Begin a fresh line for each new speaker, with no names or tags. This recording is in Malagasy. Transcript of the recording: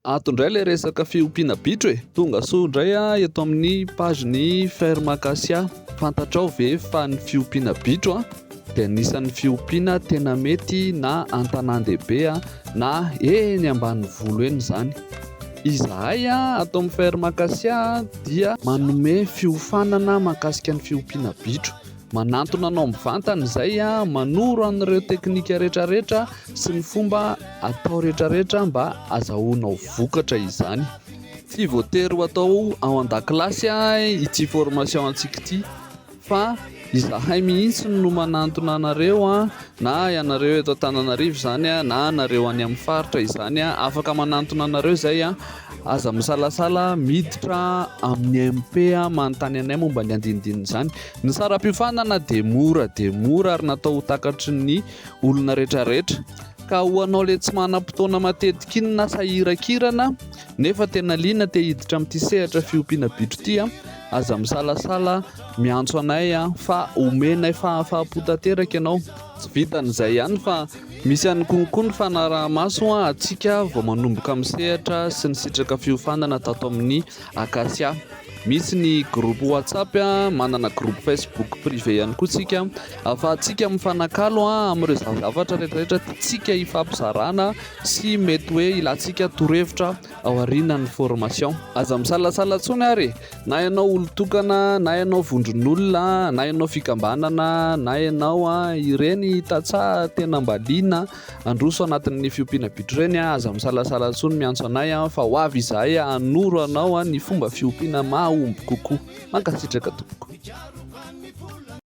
Ato indray ilay resaka fiompiana bitro e! Tonga soa indray aho eto amin'ny page ny ferme acacia. Fantatrao ve fa ny fiompiana bitro dia anisan'ny fiompiana tena mety na an-tanàn-dehibe na eny ambanivolo eny izany. Izahay ato amin'ny ferme acacia dia manome fiofanana mahakasika ny fiompiana bitro. Manantona anao mivantana izay manoro an'ireo teknika rehetrarehetra sy ny fomba atao rehetrarehetra mba azahoanao vokatra izany. Tsy voatery ho atao ao an-dakilasy ity formation antsika ity fa izahay mihitsy no manantona anareo na ianareo eto Antananarivo izany na anareo any amin'ny faritra izany. Afaka manantona anareo izay. Aza misalasala miditra amin'ny MP manontany anay momba ny andinindin'izany. Ny saram-piofanana dia mora dia mora ary natao ho takatry ny olona retraretra. Ka ho anao le tsy manam-potoana matetika iny na sahiran-kirana nefa tena liana te hiditra amin'ity sehatra fiompiana bitro ity a, aza misalasala miantso anay fa omenay fahafaham-po tanteraka ianao. Tsy vitan'izay ihany fa Misy ihany koa koa ny fanaraha-maso ho antsika vao manomboka misehatra sy nisitraka fiofanana tato amin'ny Acacia. Misy ny groupe WhatsApp, manana groupe Facebook privé ihany koa tsika ahafahantsika mifanakalo amin'ireo zavatra rehetrarehetra tiantsika hifampizarana sy mety hoe ilantsika torohevitra. ao arinan'ny formation. Aza misalasala tsony ary e! na ianao olon-tokana, na ianao vondron'olona, na ianao fikambanana, na ianao a, ireny tantsaha tena mba liana handroso anatin'ny fiompiana bitro ireny a, aza misalasala tsony miantso anay a, fa ho avy izahay hanoro anao ny fomba fiompiana mahomby kokoa. Mankasitraka tompoko.